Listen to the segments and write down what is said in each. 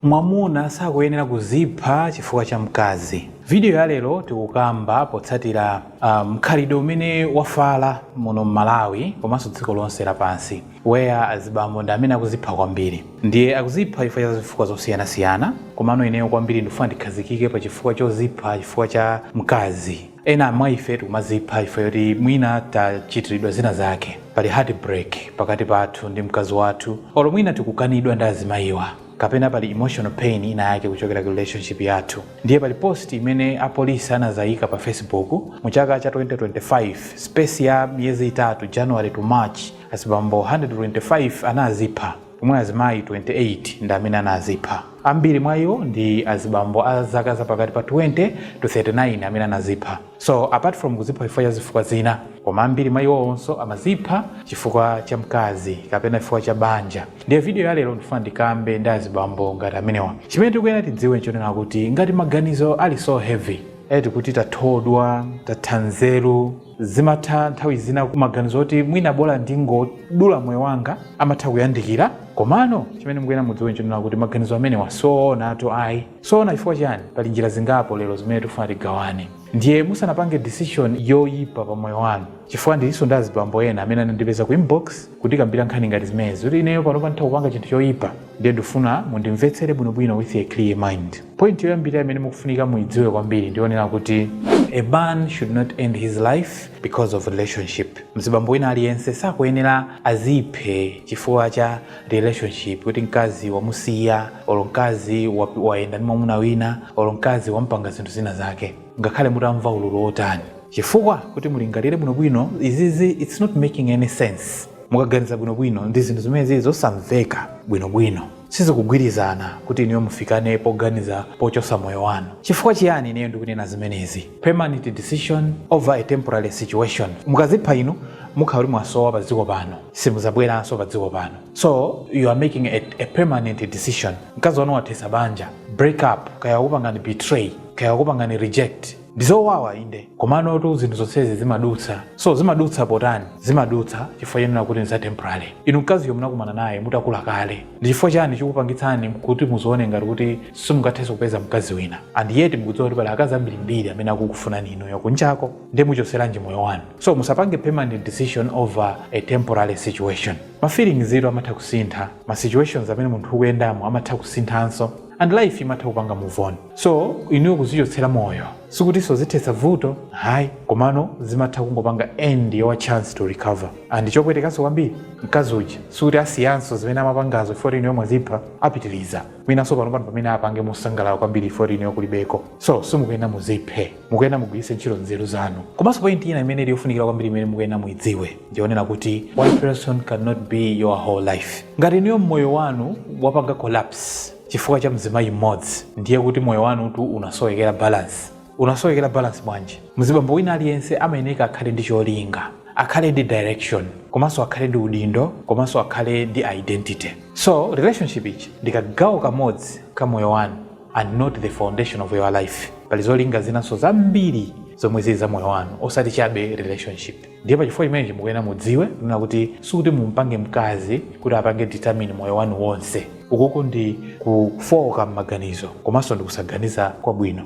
Mwamuna sakuyenera kuzipha chifukwa cha mkazi. Video ya lero tikukamba potsatira mkhalidwe umene wafala muno m'malawi komanso dziko lonse lapansi where azibambo ndi amene akuzipha kwambiri ndiye akuzipha chifukwa cha zifukwa zosiyanasiyana komano ineyo kwambiri ndikufuna ndikhazikike pa chifukwa chozipha chifukwa cha mkazi ena mwa ife tikumazipha chifukwa choti mwina tachitiridwa zina zake pali heart break pakati pathu ndi mkazi wathu olo mwina tikukanidwa ndi azimayiwa kapena pali emotional pain ina yake kuchokera ku relationship yathu ndiye pali post imene apolisi anazayika pa facebook mu chaka cha 2025 space ya miyezi itatu january to march azibambo 125 anazipha pomwe azimayi 28 ndi amene anazipha ambiri mwa iwo ndi azibambo a zaka za pakati pa 20 to 39 amene anazipha so apart from kuzipha chifukwa cha zifukwa zina koma ambiri mwa iwowonso amazipha chifukwa cha mkazi kapena chifukwa cha banja Ndiye video ya lero ndifuna ndikambe ndi azibambo ngati amenewa. Chimene tikuyenera tidziwe nchonena kuti ngati maganizo ali so heavy, eti kuti tathodwa, tatha nzeru, zimatha nthawi zina maganizo oti mwina bola ndingodula moyo wanga amatha kuyandikira. Komano chimene mukuyenera mudziwe nchonena kuti maganizo amenewa soonatu ayi. Soona chifukwa chiyani? Pali njira zingapo lero zimene tikufuna tigawane. Ndiye musanapange decision yoipa pa moyo wanu, chifukwa ndilinso ndi azibambo ena amene anandipeza ku inbox kudzandikambira nkhani ngati zimenezi kuti ineyo panopa nditha kupanga chinthu choyipa ndiye ndifuna mundimvetsere bwinobwino with a clear mind point yoyambira imene mukufunika muyidziwe kwambiri ndiyonena kuti a man should not end his life because of relationship mzibambo wina aliyense sakuyenera aziphe chifukwa cha relationship kuti mkazi wamusiya olo mkazi wa- wayenda ndi mwamuna wina olo mkazi wampanga zinthu zina zake ngakhale mutamva ululu wotani chifukwa kuti mulingalire bwinobwino izizi its not making any sense mukaganiza bwinobwino ndi zinthu zimene zili zosamveka bwinobwino sizikugwirizana kuti inuyo mufikane poganiza pochosa moyo wanu chifukwa chiyani ineyo ndikunena zimenezi permanent decision over a temporary situation mukazipha inu mukhala kuti mwasowa pa dziko pano simuzabweranso pa dziko pano so you are making a, a permanent decision mkazi wanu wathesa banja break up kaya wakupangani betray kaya wakupangani reject ndizowawa inde komanotu zinthu zonsezi zimadutsa so zimadutsa potani zimadutsa chifukwa chonena kuti ndi za temporary inu mkaziyo munakumana naye mutakula kale ndi chifukwa chani chikupangitsani kuti muzione ngati kuti simungathenso kupeza mkazi wina and yet mukudziwa kuti pali akazi ambirimbiri amene akukufunani inuyo kunjako ndi muchoseranji moyo wanu so musapange permanent decision over a temporary situation Ma feelings tu amatha kusintha, ma situations amene munthu ukuyendamo amatha kusinthanso and life imatha kupanga move on. So inuyo kuzichotsera moyo sikutinso zithetsa vuto ayi komano zimatha kungopanga end your chance to recover and chopwetekanso kwambiri mkazi uja sikuti asiyanso zimene amapangazo chifukwa kuti inuyo mwazipha, apitiriza mwinanso panopano pamene apange mosangalala kwambiri chifukwa kuti inuyo kulibeko. So simukuyenera muziphe, mukuyenera mugwiritse ntchito nzeru zanu. Komanso point ina imene ili yofunikira kwambiri imene mukuyenera muidziwe. ndi yonena kuti one person cannot be your whole life ngati inuyo moyo wanu wapanga collapse chifukwa cha mzimayi mmodzi ndiye kuti moyo wanutu unasowekera balance unasowekera balance bwanji mzibambo wina aliyense amayeneka akhale ndi cholinga akhale ndi direction komanso akhale ndi udindo komanso akhale ndi identity so relationship ichi ndi kagawo kamodzi ka moyo wanu and not the foundation of your life pali zolinga zinanso zambiri zomwe zili za moyo wanu osati chabe relationship ndiye pachifukwa chimenechi mukuyenera mudziwe kunena kuti sikuti mumpange mkazi kuti apange determine moyo wanu wonse ukuku ndi kufooka m'maganizo komanso ndi kusaganiza kwabwino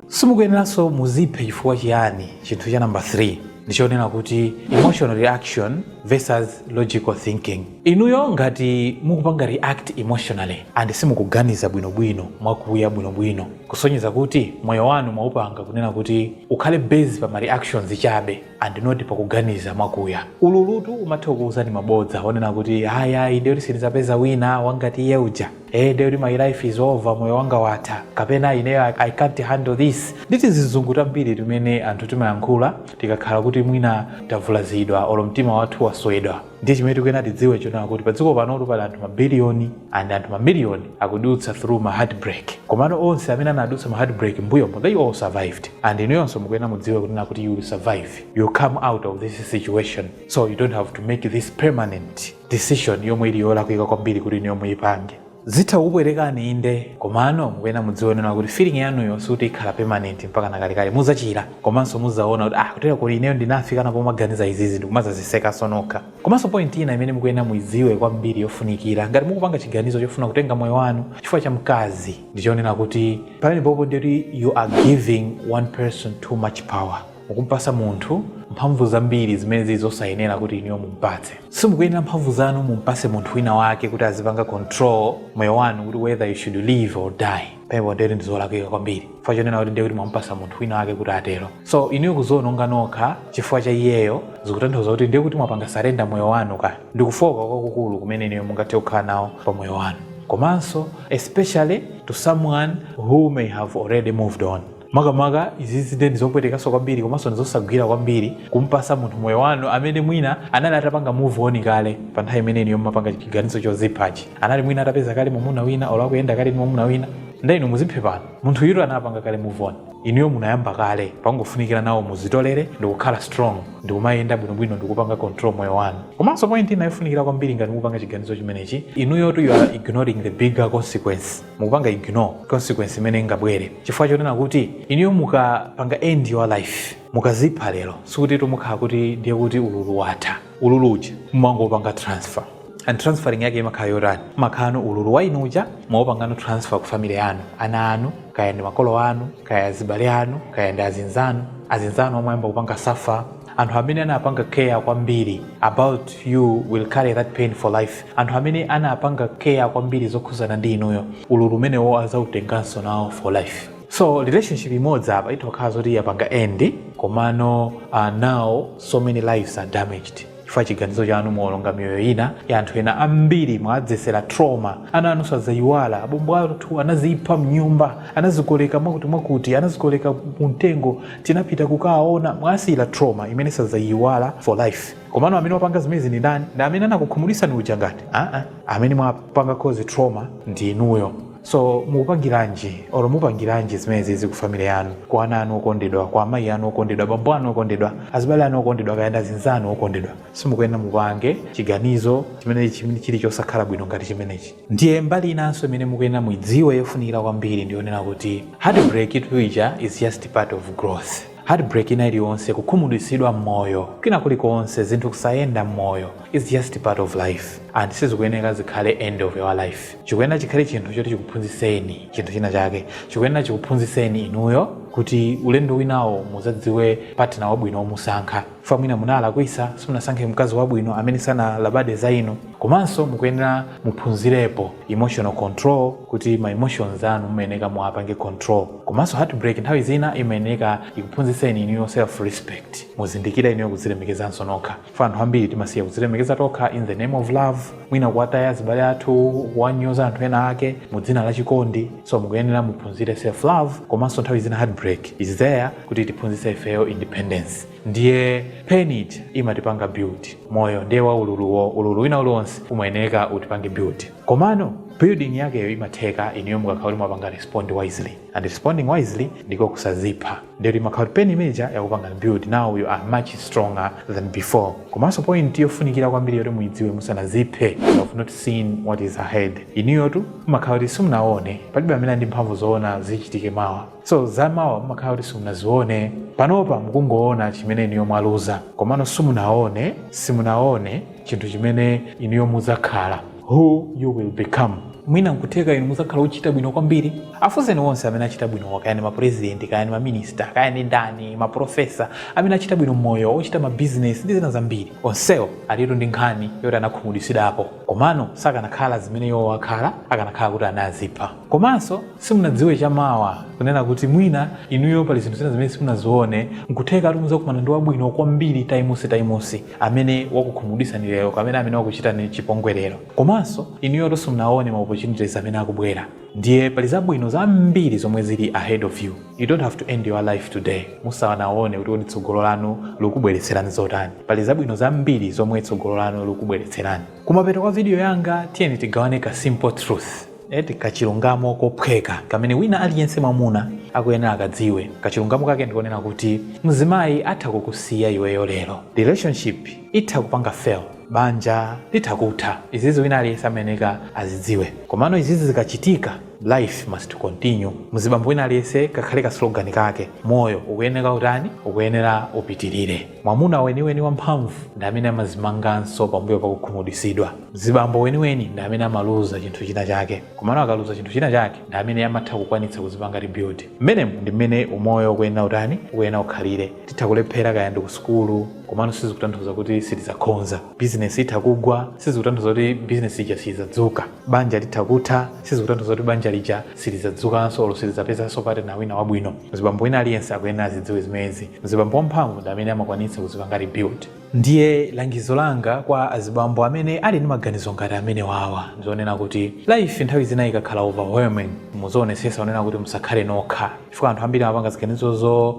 simukuyeneranso muziphe chifukwa chiyani chinthu cha namba 3 ndichonena kuti emotional reaction versus logical thinking Inuyo ngati mukupanga react emotionally and simukuganiza bwinobwino, mwakuya bwinobwino, kusonyeza kuti moyo wanu mwaupanga kunena kuti ukhale based pa ma reactions chabe and not pa kuganiza mwakuya, ululu tu umatha kukuuzani mabodza onena kuti ayi ayi ndiye kuti sindidzapeza wina wa ngati iye uja, ee ndiye kuti my life is over, moyo wanga watha, kapena ineyo I can't handle this ndi tizizungu tambiri timene anthu timayankhula tikakhala kuti mwina tavulazidwa olo mtima wathu waswedwa. ndiye chimene tikuyenera tidziwe chonena kuti padziko panotu pali anthu mabiliyoni and anthu mamiliyoni akudutsa through ma heartbreak komano onse amene anadutsa ma heartbreak mbuyomo they all survived and inuyonso mukuyenera mudziwe kunena kuti you will survive you come out of this situation so you don't have to make this permanent decision yomwe ili yolakwika kwambiri kuti inuyo muyipange Zitha kukupwetekani inde, komano mukuyenera mudziwe kunena kuti feeling yanuyo sikuti ikhala permanent mpakana kalekale. Mudzachira komanso mudzaona kuti ah kutero kuti ineyo ndinafikanapo maganiza izizi ndikumadzazisekanso nokha. Komanso point ina imene mukuyenera muidziwe kwambiri yofunikira ngati mukupanga chiganizo chofuna kutenga moyo wanu chifukwa cha mkazi ndichonena kuti pamenepopo ndiye kuti you are giving one person too much power. mukumpasa munthu mphamvu zambiri zimene zili zosayenera kuti inuyo mumpatse simukuyenera mphamvu zanu mumpase munthu wina wake kuti azipanga control moyo wanu kuti whether you should live or die papo ndeti ndizolakwika kwambiri chifukwa chonena kuti ndiye kuti mwampasa munthu wina wake kuti atero so inuyo kuziononga nokha chifukwa cha iyeyo zikutanthauza kuti ndiye kuti mwapanga surrender moyo wanu ka ndi kufooka kwakukulu kumene inuyo mungathe kukhala nawo pa moyo wanu komanso especially to someone who may have already moved on makamaka izizi nde ndizopwetekanso kwambiri komanso ndizosagwira kwambiri kumpasa munthu moyo wanu amene mwina anali atapanga move on kale pa nthawi imene inuyo mumapanga chiganizo choziphachi anali mwina atapeza kale mwamuna wina olo akuyenda kale ndi mwamuna wina nde inu muziphe pano munthuyotu anapanga kale move on inuyo munayamba kale pangofunikira nawonso muzitolere ndikukhala strong ndikumayenda bwinobwino ndikupanga control moyo wanu komanso point ina yofunikira kwambiri ngati mukupanga chiganizo chimenechi inuyotu you are ignoring the bigger consequence mukupanga ignore consequence imene ingabwere chifukwa chonena kuti inuyo mukapanga end your life mukazipha lero sikutitu mukhala kuti ndiye kuti ululu watha ululu uja mumangopanga transfer and transferring yake imakhala yotani mumakhalano ululu wa inu uja mwaupangano transfer ku family yanu ana anu kaya ndi makolo anu kaya azibale anu kaya ndi azinzanu azinzanu amwe ayamba kupanga suffer anthu amene anapanga care kwambiri about you will carry that pain for life anthu amene anapanga care kwambiri zokhuzana ndi inuyo ululu umenewo azautenganso nawo for life so relationship imodzi apa itha kukhala zoti yapanga end komano uh, now so many lives are damaged chifukwa chiganizo chanu mwawononga miyoyo ina ya anthu ena ambiri mwadzetsera trauma ana anu sadzayiwala abombo athu anazipha mnyumba anazikoleka mwakuti mwakuti anazikoleka mumtengo tinapita kukaona mwasiyira trauma imene sadzayiwala for life komano amene wapanga zimenezi ndi ndani ndi amene anakukhumudwitsani uja ngati aa amene mwapanga cause trauma ndi inuyo so mupangiranji or mupangiranji zimenezizi ku family yanu kwa ana anu okondedwa kwa amayi anu okondedwa bambo anu okondedwa azibale anu okondedwa kaya ndi azinzanu okondedwa simukuyenera mupange chiganizo chimene chimene chili chosakhala bwino ngati chimenechi Ndiye mbali inanso imene mukuyenera muidziwe yofunikira kwambiri ndi yonena kuti heartbreak-itu ija is just part of growth. Heartbreak ina iliyonse, kukhumudwitsidwa m'moyo, kwina kulikonse, zinthu kusayenda m'moyo is just part of life and sizikuyeneka zikhale end of your life. Chikuyenera chikhale chinthu choti chikuphunzitseni chinthu china chake. Chikuyenera chikuphunzitseni inuyo kuti ulendo winawo muzadziwe partner wabwino womusankha. fa mwina munalakwitsa simunasankhe mkazi wabwino amene sanalabade za inu komanso mukuyenera muphunzirepo emotional control kuti ma emotions anu mumayeneka muwapange control komanso heartbreak nthawi zina imayeneka ikuphunzitseni inuyo self respect muzindikire inuyo kuzilemekezanso nokha fa anthu ambiri timasiya kuzilemekeza tokha in the name of love mwina kuwataya azibale athu kuwanyoza anthu ena ake mu dzina la chikondi so mukuyenera muphunzire self love komanso nthawi zina heartbreak is there kuti itiphunzitse ifeyo independence ndiye pain imatipanga build moyo ndiye wa ululuwo ululu wina uliwonse umayeneka utipange build komano building yakeyo imatheka inuyo mukakhala kuti mwapanga respond wisely and responding wisely ndiko kusazipha ndiye kuti imakhala kuti pain imene ija yakupangani build now you are much stronger than before komanso point yofunikira kwambiri yoti muidziwe musanaziphe you have not seen what is ahead inuyotu mumakhala kuti simunaone palibe amene ali ndi mphamvu zoona zichitike mawa So zamawa mumakhala kuti simunazione, panopa mukungoona chimene inuyo mwaluza, komano simunaone, simunaone chinthu chimene inuyo mudzakhala, who you will become. Mwina nkutheka inu mudzakhala ochita bwino kwambiri. Afunseni onse amene achita bwinowa, kaya ndi mapurezidenti, kaya ndi maminista, kaya ndi ndani, maprofesa, amene achita bwino m'moyo, ochita mabizinesi ndi zina zambiri. Onsewo alitu ndi nkhani yoti anakhumudwitsidwapo, komano sakanakhala zimene iwowo akhala akanakhala kuti anazipha. Komanso simunadziwe cha mawa, kunena kuti mwina inuyo pali zinthu zina zimene simunazione, n'kuthekatu mudzakumana ndi wabwino kwambiri times times amene wakukhumudwitsani lero kapena amene wakuchitani chipongwe lero. Komanso inuyotu simunaone ma opportunities amene akubwera. Ndiye pali zabwino zambiri zomwe zili ahead of you. You don't have to end your life today musanaone kuti kodi tsogolo lanu likubweretserani zotani. Pali zabwino zambiri zomwe tsogolo lanu likubweretserani. Kumapeto kwa video yanga, tiyeni tigawane ka simple truth. eti kachilungamo kophweka kamene wina aliyense mwamuna akuyenera akadziwe kachilungamo kake ndikonena kuti mzimayi atha kukusiya iweyo lero relationship itha kupanga fail banja litha kutha izizi wina aliyense amayeneka azidziwe komano izizi zikachitika life must continue mzibambo wina aliyense kakhale ka slogan kake moyo ukuyenera utani ukuyenera upitirire mwamuna weniweni wamphamvu ndi amene amazimanganso pambuyo pakukhumudwitsidwa mzibambo weniweni ndi amene amaluza chinthu china chake komano akaluza chinthu china chake ndi amene amatha kukwanitsa kuzipanga rebuild mmenemu ndi mmene umoyo ukuyenera utani ukuyenera ukhalire titha kulephera kaya ndi ku sukulu komano sizikutanthauza kuti sitidzakhonza bizinesi itha kugwa sizikutanthauza kuti bizinesi ija siyidzadzuka banja litha kutha sizikutanthauza kuti banja lija silidzadzukanso olo silidzapezanso partner wina wabwino mzibambo wina aliyense akuyenera azidziwe zimenezi mzibambo wamphamvu ndi amene amakwanitsa kuzipanga rebuild Ndiye langizo langa kwa azibambo amene ali ndi maganizo ngati amenewawa ndizonena kuti life nthawi zina ikakhala overwhelming muzionesesa kunena kuti musakhale nokha chifukwa anthu ambiri amapanga ziganizo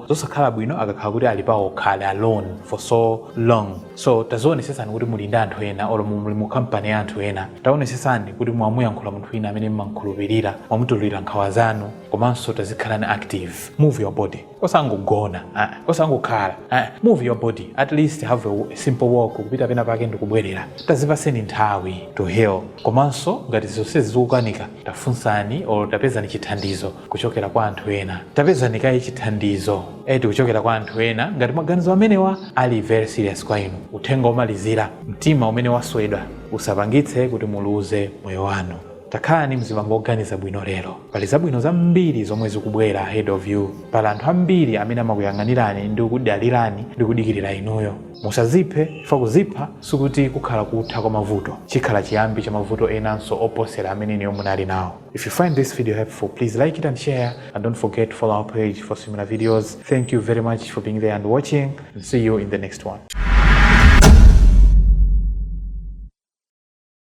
zosakhala bwino akakhala kuti ali paokha ali alone for so long so tazionesesani kuti muli ndi anthu ena olo mu- muli mu kampani ya anthu ena taonesesani kuti mwamuyankhula munthu wina amene mmamkhulupirira mwamutululira nkhawa zanu komanso tazikhalani active move your body osangogona, osangokhala, move your body at least have a simple walk kupita pena pake ndikubwerera tazipaseni nthawi to heal komanso ngati zonsezi zikukanika tafunsani or tapezani chithandizo kuchokera kwa anthu ena tapezani kaye chithandizo eti kuchokera kwa anthu ena ngati maganizo amenewa ali very serious kwa inu uthenga omalizira mtima umene waswedwa usapangitse kuti muluze moyo wanu Takhalani mzibambo oganiza bwino lero. Pali zabwino zambiri zomwe zikubwera ahead of you. Pali anthu ambiri amene amakuyang'anirani ndi kukudalirani ndi kudikirira inuyo. Musaziphe chifukwa kuzipha sikuti kukhala kutha kwa mavuto. Chikhala chiyambi cha mavuto enanso oposera amene inuyo munali nawo. If you find this video helpful, please like it and share and don't forget to follow our page for similar videos. Thank you very much for being there and watching and see you in the next one.